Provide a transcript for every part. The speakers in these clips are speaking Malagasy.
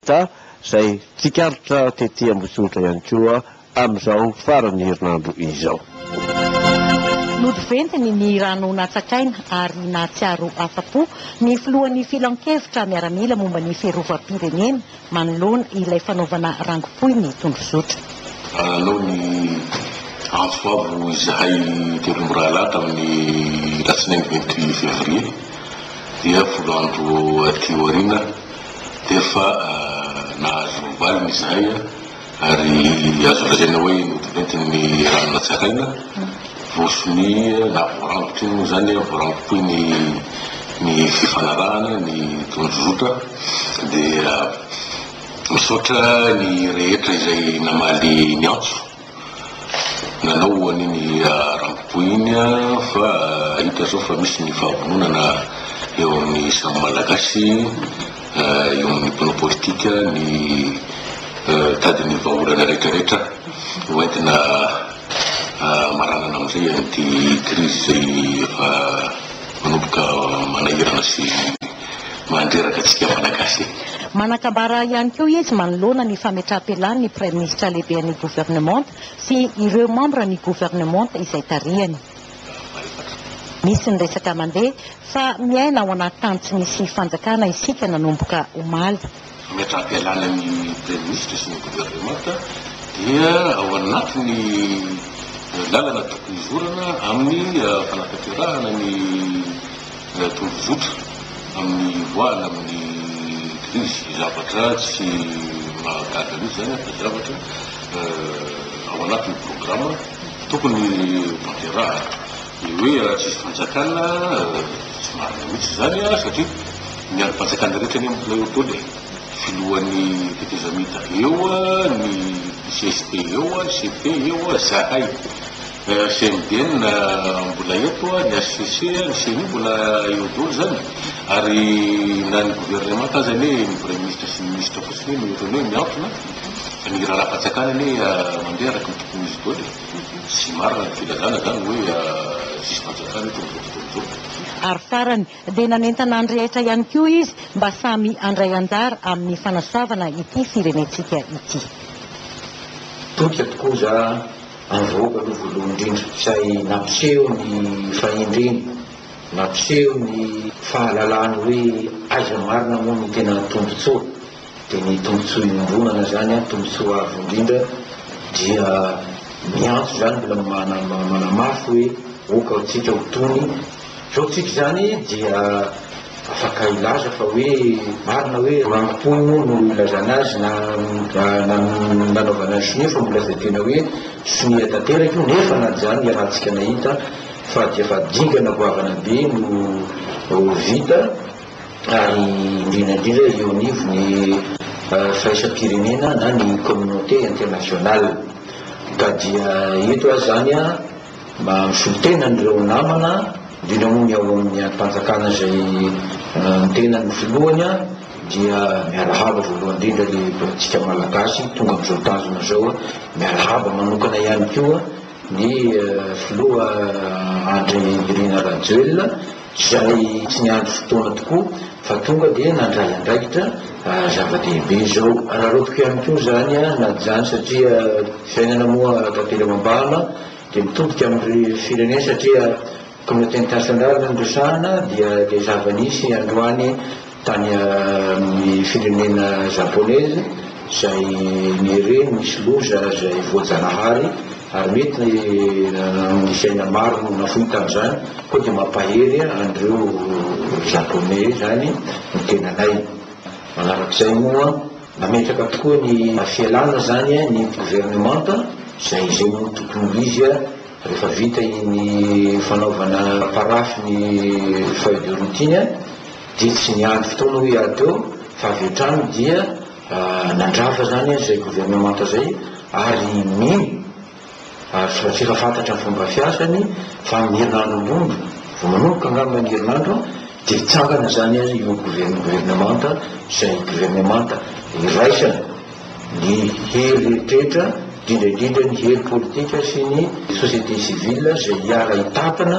Ka izay tsikaritra tety Ambositra ihany koa amin'izao faran'ny herinandro izao. Nody ventiny ny rano natsakaina ary nahatsiaro afa-po ny filohan'ny filankevitra miaramila momba ny fiarovam-pirenena manoloana ilay fanaovana rangopoin'ny tondrozotra. Nanao ny antso avo izahay telo mirahalahy tamin'ny alatsinainy vingt-huit février, dia folo andro aty aoriana. efa nahazo ny valiny izahay ary azo lazaina hoe notiventin'ny rano natsaraina, voasonia na voarangotry ny moa izany, voarangopoy ny ny fifanarahana, ny tondrozotra dia misaotra ny rehetra izay namaly ny antso. Nanao ho an'iny Ramppo iny fa hita zao fa misy ny fahavononana eo amin'ny samy Malagasy, eo amin'ny mpanao politika ny hitady ny vahaolana rehetra rehetra ho entina hamaranana amin'izay an'ity krizy izay efa manomboka manahirana sy. manteraka antsika Malagasy e! Manan-kambara ihany koa izy manoloana ny fametraham-pialan'ny Praiminisitra Lehiben'ny Governemanta sy ireo mambran'ny Governemanta izay tarihany. Misy ny resaka mandeha fa miaina ao anaty tany tsy misy fanjakana isika nanomboka omaly. Ny hatrapialana ny Praiminisitra sy ny Governemanta dia ao anatin'ny lalana tokony hizorana amin'ny fanatanterahana ny tondrozotra amin'ny hivoahana amin'ny krizy. Zavatra tsy mahagaga mihitsy izany ary dia zavatra ao anatin'ny programa tokony hotanterahana. Ny hoe tsy hisy fanjakana, tsy marina mihitsy izany satria. Miaro bajaka ny rehetra anie ny mbola eo daholo e! Filohan'ny tetezamita eo, ny jsp eo, cp eo, zahay CMDN mbola eto, ny hcc, ny ceni mbola eo daholo zany ary na ny governemanta aza anie ny praiminisitra sy ny minisitra fotsiny no ohatrany hoe miantona fa ny raharaham-panjakana anie mandeha araka ny tokony ho izy daholo e! Tsy marina ny filazana zany hoe tsisy fanjakana eto amin'izao fotoana izao. Ary farany, dia nanentana ny rehetra ihany koa izy mba samy handray anjara amin'ny fanasoavana ity firenentsika ity. Toika tokoa za avoaka aloha voalohany indrindra izay nampiseho ny fahendreny, nampiseho ny fahalalany hoe aiza marina moa no tena tombontsoa. Dia ny tombotsoa iombonana izany an, tombotsoa avo indrindra dia miantso izany mbola manama manamafy hoe ok ao tsika ho tony zao tsika izany dia afaka hilaza fa hoe marina hoe rangom-pohy moa no ilazana azy na na nanaovana ny sonia fa mbola izay tena hoe sonia tanteraka io nefa na izany iarahantsika nahita fa dia efa dingana goavana be no vita ary indrindra indrindra eo anivon'ny firaisam-pirenena na ny communauté internationale. Ka dia eto aho izany mba misolo tena an'ireo namana, indrindra moa ny ao amin'ny andrim-panjakana izay ny tenany no filohany, dia miala haba voalohany indrindra ry antsika Malagasy tonga amin'izao tanjona izao, miala haba manokana ihany koa ny filoha Andry Nirina Rajoelina, izay tsy niandry fotoana tokoa fa tonga dia nandray andraikitra zava-dehibe izao. Araraotiko ihany koa izany na izany satria fiainana moa tantely ao am-bahana dia mitodika amin'ny firenena satria communauté internationale no resahana dia ilay zava-nisy androany Tany amin'ny firenena Japonais izay nihere nisy loza izay voajanahary ary mety amin'ny fiaina maro no nafoy tamin'izany koa dia mampahery an'ireo Japonais izany ny tenanay. Manarak'izay moa nametraka tokoa ny fialana izany ny governemanta izay zay no tokony ho izy rehefa vita iny fanaovana parafy ny feuille de route iny. Dia tsy niandry fotoana hoy aho teo fa avy hatrany dia nandrava izany izay governemanta izay ary mino ary tsy mba tsy efa fantatra ny fomba fiasany fa amin'ny herinandro ambony vao manomboka angamba ny herinandro dia hitsangana izany ary io governemanta izay governemanta iraisana ny hery rehetra indrindra indrindra ny hery politika sy ny société civile izay hiara-hitantana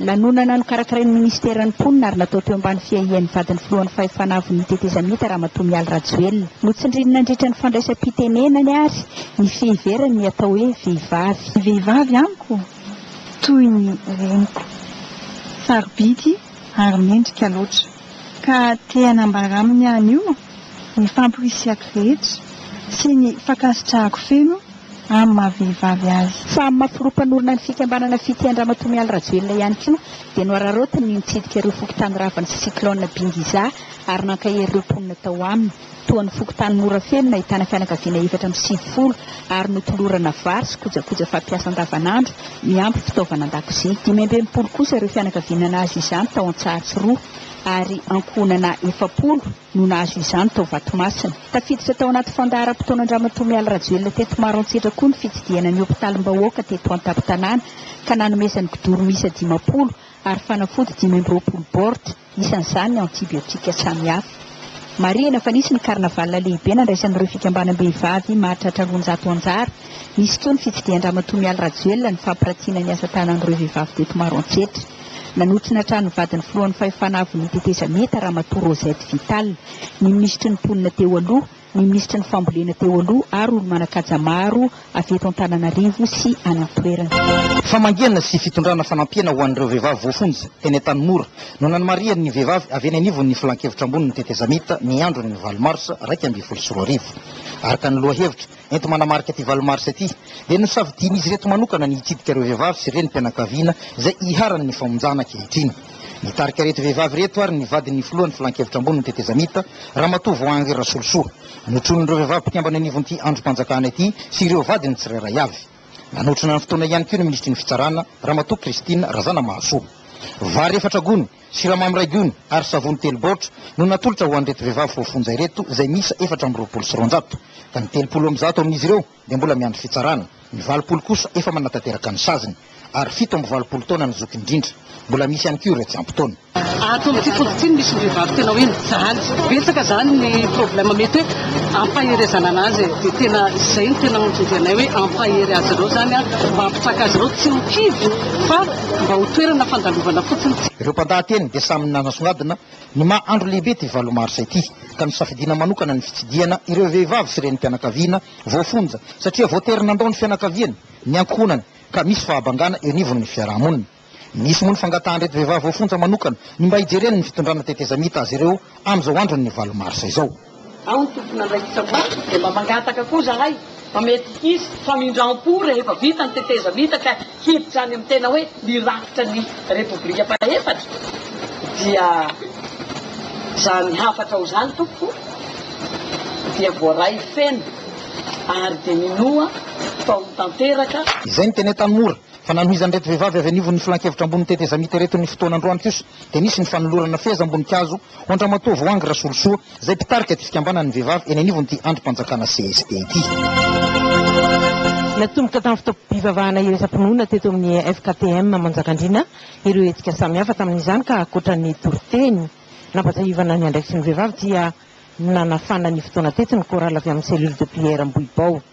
Nanonona na nokarakarain'ny Minisiteran'ny Mponina ary natao teo ambany fiahian'ny vadin'ny Filohan'ny Fahefana Avon'ny Tetezamita Ramatoa Mialy Rajoelina. Notsindriany nandritra ny fandraisam-pitenenany ary ny fiheverany ny atao hoe vehivavy. Ny vehivavy amiko toy ny reniko, sarobidy ary mendrika loatra ka te hanambara aminy anio ny famporisihako rehetra sy ny fankasitrahako feno amin'ny maha vehivavy azy. Fa amin'ny maha filoha mpanorina ny fikambanana Fitia Andramatoa Mialy Rajoelina ihany koa dia nohararaotiny ny nitsidika ireo fokontany ravany sy cyclone Bingiza ary nankahery ireo mponina tao aminy toa ny fokontany Morafeno nahitana fianakaviana efatra amby sivifolo ary notolorana vary sy kojakoja fampiasa andavanandro miampy fitaovana an-dakozia. Dimy amby enimpolo kosa ireo fianakaviana nahazo izany tao Antsahatsiroa ary ankohonana efapolo no nahazo izany tao Vatomasina. Tafiditra tao anaty fandaharam-potoanan-dRamatoa Mialy Rajoelina teto Maroantsetra koa ny fitsidihana ny hopitalim-bahoaka teto an-tampon-tanàna ka nanomezany kidoro miisa dimampolo ary fanafody dimy amby roapolo baoritra, isan'izany ny antibiotika samihafa. Marihina fa nisy ny carnaval lehibe nandraisan'ireo fikambanam-behivavy mahatratra roanjato anjara. Nisy koa ny fitsidihan-dRamatoa Mialy Rajoelina nifampiratiana ny asa tanan'ireo vehivavy teto Maroantsetra. Nanotrona trano vadin'ny filohan'ny fahefana avenue Tetezamita, Ramatoa Rosette Vital, ny minisitry ny mponina teo aloha, ny minisitry ny fambolena teo aloha ary olo-manan-kaja maro avy eto Antananarivo sy any an-toerana. Famangiana sy fitondrana fanampiana ho an'ireo vehivavy voafonja teny Antanimora no nanamarihan' ny vehivavy avy eny anivon' ny Filankevitra ambonin'ny Tetezamita ny andron'ny valo marsa iraika ambin'ny folo sy roa arivo. Araka ny lohahevitra, enti-manamarika ity valo marsa ity, dia nosafidian'izy ireto manokana ny hitsidika ireo vehivavy sy renim-pianakaviana izay iharan'ny famonjana ankehitriny. Nitarika ireto vehivavy ireto ary ny vadin'ny filohan'ny Filan-kevitra Ambony ny Tetezamita, Ramatoa Voahangy Rasolosoa. Notronin'ireo vehivavy mpikambana io anivon'ity andrim-panjakana ity sy ireo vadiny tsirairay avy. Nanotrona ny fotoana ihany koa ny minisitry ny Fitsarana, Ramatoa Christine Razanamahasoa. Vary efatra gony, Siramamy iray gony ary savony telo baoritra no natolotra ho an'ireto vehivavy voafonja ireto izay miisa efatra amby roapolo sy roanjato, ka ny telopolo amby zato amin'izy ireo dia mbola miandry fitsarana, ny valopolo kosa efa manatanteraka ny saziny ary fito amby valopolo taona ny zoky indrindra. Mbola misy ihany koa ireo tsy ampy taona. Ato amin'ity tontolo ity no misy ny vehivavy tena hoe mijaly. Betsaka izany ny problème mety hoe ampaherezana an'azy e. Dia tena izay no tena anton-dianay hoe ampahery azy ireo izany mba hampitraka azy ireo tsy ho kivy fa. mba ho toerana fandalovana fotsiny. Ireo mpandahateny dia samy nanasongadina ny maha andro lehibe ity valo marsa ity, ka nisafidiana manokana ny fitsidihana ireo vehivavy sy renim-pianakaviana voafonja, satria voatery nandao ny fianakaviany, ny ankohonany, ka misy fahabangana eo anivon'ny fiarahamonina. Nisy moa ny fangatahan'ireto vehivavy voafonja manokana ny mba hijereny ny fitondrana tetezamita azy ireo amin'izao andron'ny valo marsa izao. Aho no tompon'andraikitra ho ahy dia mba mangataka koa izahay fa mety hisy famindram-po rehefa vita ny tetezamita ka hiditra any amin'ny tena hoe ny rafitra ny Repoblika fahefatra dia izany hafatra ao izany tompoko dia voaray feno ary dia minoa fa ho tanteraka Izay ny tena tanora. Fa nanohizan'ireto vehivavy avy anivon'ny Filankevitra ambonin'ny tetezamita ireto ny fotoana androany kosa dia nisy ny fanolorana fehezam-boninkazo ho an-dRamatoa Voahangy Rasolosoa izay mpitarika ity fikambanan'ny vehivavy eny anivon'ity andrim-panjakana cst ity. Natomboka tamin'ny fotoam-pivavahana iraisam-pinoana teto amin'ny FKTM Manjakandriana ireo hetsika samihafa tamin'izany ka ankoatra ny toriteny nampatsiahivana ny andraikitry ny vehivavy dia nanafana ny fotoana teto ny chorale avy amin'ny cellule de prière Ambohibao.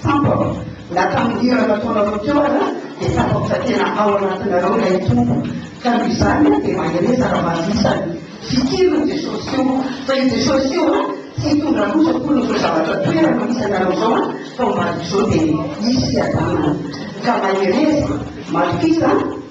Tsapako, na tamin'ny hira nataonareo teo aza dia tsapako fa tena ao anatinareo ilay Tompo, ka noho izany dia mahereza raha mahazo isa ny fikiriny Jesosy io, fa io Jesosy io an, tsy hitondra loza akory an'izao zavatra toerany misy anareo izao an, fa omaly toy izao dia hisy fiadanana, ka mahereza, matokiza an.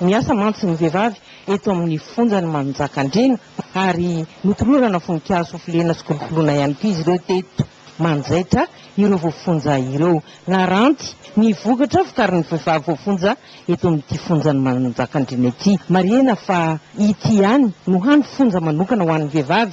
Miasa mantsy ny vehivavy eto amin'ny fonjan'i Manjakandriana ary notolorana voninkazo hofilena sy kolokoloina ihany koa izy ireo teto manjaitra ireo voafonja ireo. Naranty ny vokatra vokarin'ny vehivavy voafonja eto amin'ity fonjan'i Manjakandriana ity. Marihina fa ity ihany no hany fonja manokana ho an'ny vehivavy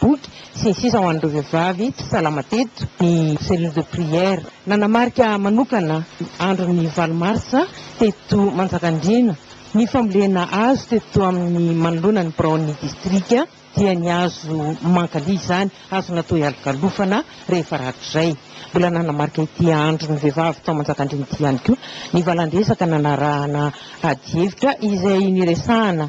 boky, sy ny sisa ho an'ireo vehivavy tsy salama teto, ny Cellule de prière. Nanamarika manokana andron'ny valo marsa teto Manjakandriana. Ny fambolena hazo teto amin'ny manoloana ny biraon'ny distrika dia ny hazo mankalia izany, hazo natao hialokalofana rehefa rahatrizay. Mbola nanamarika ity andron'ny vehivavy tao Manjakandriana ity ihany koa ny valandresaka nanarahana adihevitra izay niresahana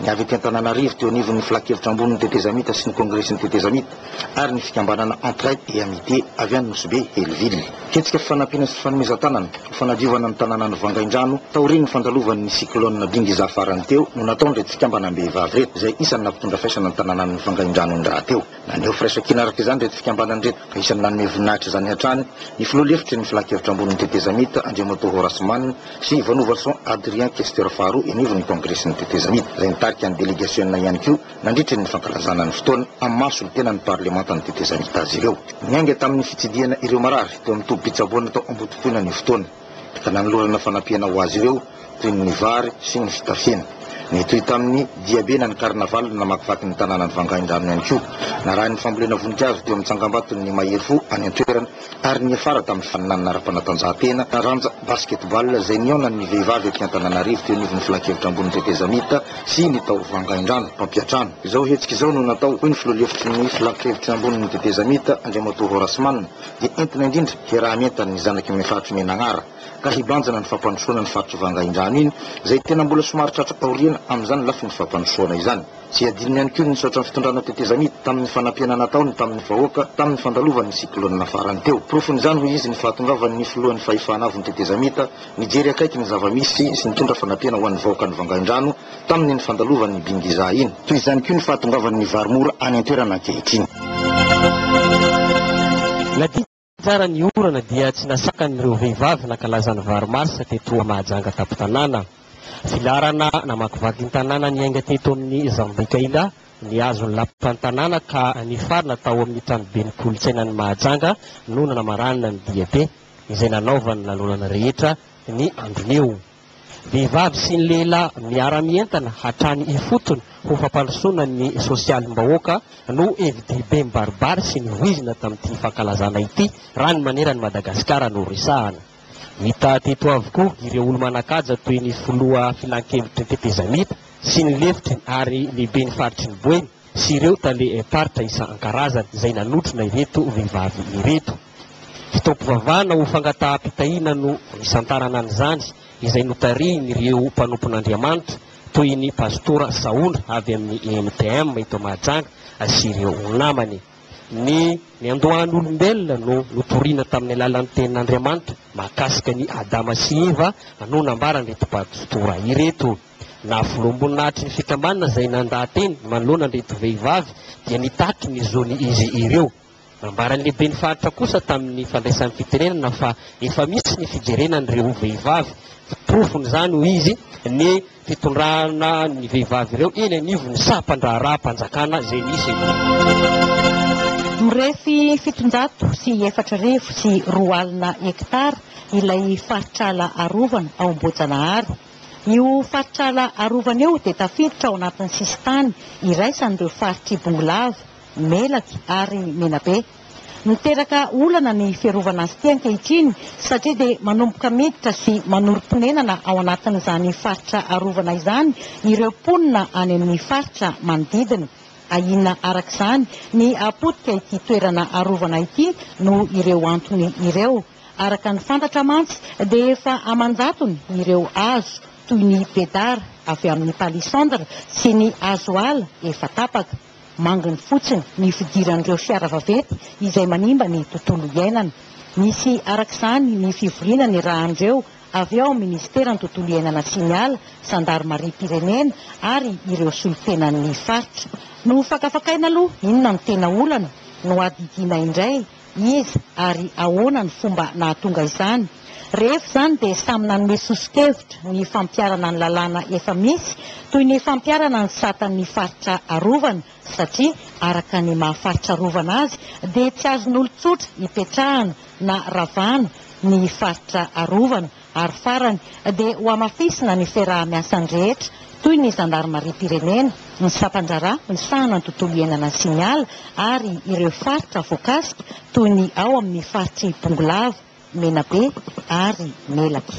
ny avy ety Antananarivo teo anivon'ny Filan-kevitra Ambonin'ny Tetezamita sy ny Kongresin'ny Tetezamita ary ny fikambanana Entraide et Amitié avy any Nosy Be, Hellville. Hetsika fifanampiana sy fanomezan-tanana ho fanadiovana ny tanànan'i Vangaindrano taorian'ny fandalovan'ny cyclone Bingiza farany teo no nataon'ireto fikambanam-behivavy ireto izay isan'ny nampitondra faisana ny tanànan'i Vangaindrano ny rahateo. Naneho firaisankina araka izany ireto fikambanana ireto, ka isan'ny nanome voninahitra izany hatrany ny filoha lefitry ny filankevitra ambonin'ny tetezamita, Andriamatoa Horace Mann, sy Vanovason Adrien Kester faharoa eny ivon'ny kongresin'ny tetezamita, izay nitarika ny delegasiona ihany koa nandritry ny fankalazana ny fotoana amin'ny maha solontenan'ny parlemantan'ny tetezamita azy ireo. Niainga tamin'ny fitsidihana ireo marary teo amin'ny tobim-pitsaboana tao Ambotompoina ny fotoana. ka nanolorana fanampiana ho azy ireo toy ny vary sy ny fitafiana. Nitohy tamin'ny diabe na ny carnaval namakivaky ny tanànan'i Vangaindrano ihany koa. Narahin'ny fambolena voninkazo teo amin'ny tsangambaton'ny Ny Mahery Fo any an-toerana ary niafara tamin'ny faninanana ara-panatanjahantena taranja basketball izay nihaonan'ny vehivavy aty Antananarivo teo anivon'ny Filankevitra Ambony Tetezamita sy ny tao Vangaindrano mpampiatrano. Izao hetsika izao no natao, hoy ny filoha lefitry ny Filankevitra Ambony Tetezamita, Andriamatoa Horace Mann, dia entina indrindra hiaraha-mientana ny zanaky ny faritry Menanara ka hibanjina ny fampandrosoana ny faritry Vangaindrano iny izay tena mbola somary tratra aoriana amin'izany lafiny fampandrosoana izany. Tsy adinony ihany koa ny nisaotra ny fitondrana tetezamita tamin'ny fanampiana nataony tamin'ny vahoaka tamin'ny fandalovany ny cyclone farany teo. Porofon'izany hoy izy ny fahatongavan'ny filohan'ny fahefana avon'ny tetezamita nijery akaiky ny zava-misy sy nitondra fanampiana ho an'ny vahoakan'i Vangaindrano tamin'ny nifandalovan'ny Bingiza iny. Toy izany koa ny fahatongavan'ny vary mora any an-toerana ankehitriny. Na dia tsara ny orana dia tsy nasakan'ireo vehivavy nankalaza ny vary marsa teto Mahajanga tampon-tanàna. Filaharana namakivaky ny tanàna niainga teto amin'ny Zambicaíla ny azon'ny lapan'ny tanàna ka nifarana tao amin'ny tranoben'ny kolontsainan'i Mahajanga no nanamaranana ny diabe izay nanaovan'ny lanonana rehetra ny andron'io. Vehivavy sy ny lehilahy miara-mientana hatrany ifotony ho fampandrosoana ny sosialim-bahoaka no hevi-dehibe mibaribary sy nivoizina tamin'ity fankalazana ity raha ny maneran' i Madagasikara no resahana. Hita teto avokoa ireo olo-manan-kaja toy ny filoha filan-kevitry ny tetezamita sy ny lefitry ny ary lehiben'ny faritry ny Boeny, sy ireo tale faritra isan-karazany izay nanotrona ireto vehivavy ireto. Fotoam-pivavahana ho fangataham-pitahiana no nisantarana an'izany izay notarihin'ireo mpanompon'Andriamanitra toy ny Pastora Sahondra avy amin'ny EMTM eto Mahajanga sy ireo namany. Ny niandohan'olombelona no notorina tamin'ny alalan'ny tenin'Andriamanitra mahakasika an'i Adama sy Eva no nambaran'ireto Pastora ireto. Na voloam-boninahitry ny fikambanana izay nandaha-teny manoloana an'ireto vehivavy dia nitaky ny zony izy ireo. Nambaran'ny lehiben'ny faritra kosa tamin'ny fandraisany fitenenana fa efa misy ny fijerena an'ireo vehivavy. Porofon'izany hoy izy ny fitondrana ny vehivavy ireo eny anivon'ny sampan-draharaham-panjakana izay misy eto. Mirefy fitonjato sy efatra arivo sy roa alina hektara ilay faritr'ala arovana ao Ambohijanahary. Io faritra ala arovana io dia tafiditra ao anatin'ny sisintany iraisan'ireo faritr'i Bongolava, Melaky ary Menabe. Miteraka olana ny fiarovana azy ity ankehitriny satria dia manomboka miditra sy manorim-ponenana ao anatin'izany faritra arovana izany ireo mponina any amin'ny faritra manodidina. Ahiana araka izany ny hapotika ity toerana arovana ity noho ireo antony ireo. Araka ny fantatra mantsy dia efa aman-jatony ireo hazo toy ny bedara avy amin'ny palissandre sy ny hazo ala efa tapaka. Manginy fotsiny ny fidiran'ireo fiara vaventy izay manimba ny tontolo iainana. Misy araka izany ny fivoriana nirahan'ireo avy ao amin'ny minisiteran'ny tontolo iainana sy ny ala, zandarimariam-pirenena ary ireo solontenan'ny faritra. Nohofakafakaina aloha inona no tena olana, nohadidiana indray Iza ary ahoana ny fomba nahatonga izany? Rehefa izany dia samy nanome soso-kevitra ny fampiharana ny lalàna efa misy toy ny fampiharana ny sata ny faritra arovana satria araka ny maha faritra arovana azy dia tsy azon'olon-tsotra ipetrahana na ravana ny faritra arovana ary farany dia hohamafisina ny fiaraha-miasan'ny rehetra toy ny zandarimariam-pirenena, ny sampan-draharaha misahana ny tontolo iainana sy ny ala ary ireo faritra voakasika toy ny ao amin'ny faritr'i Bongolava, Menabe ary Melaky.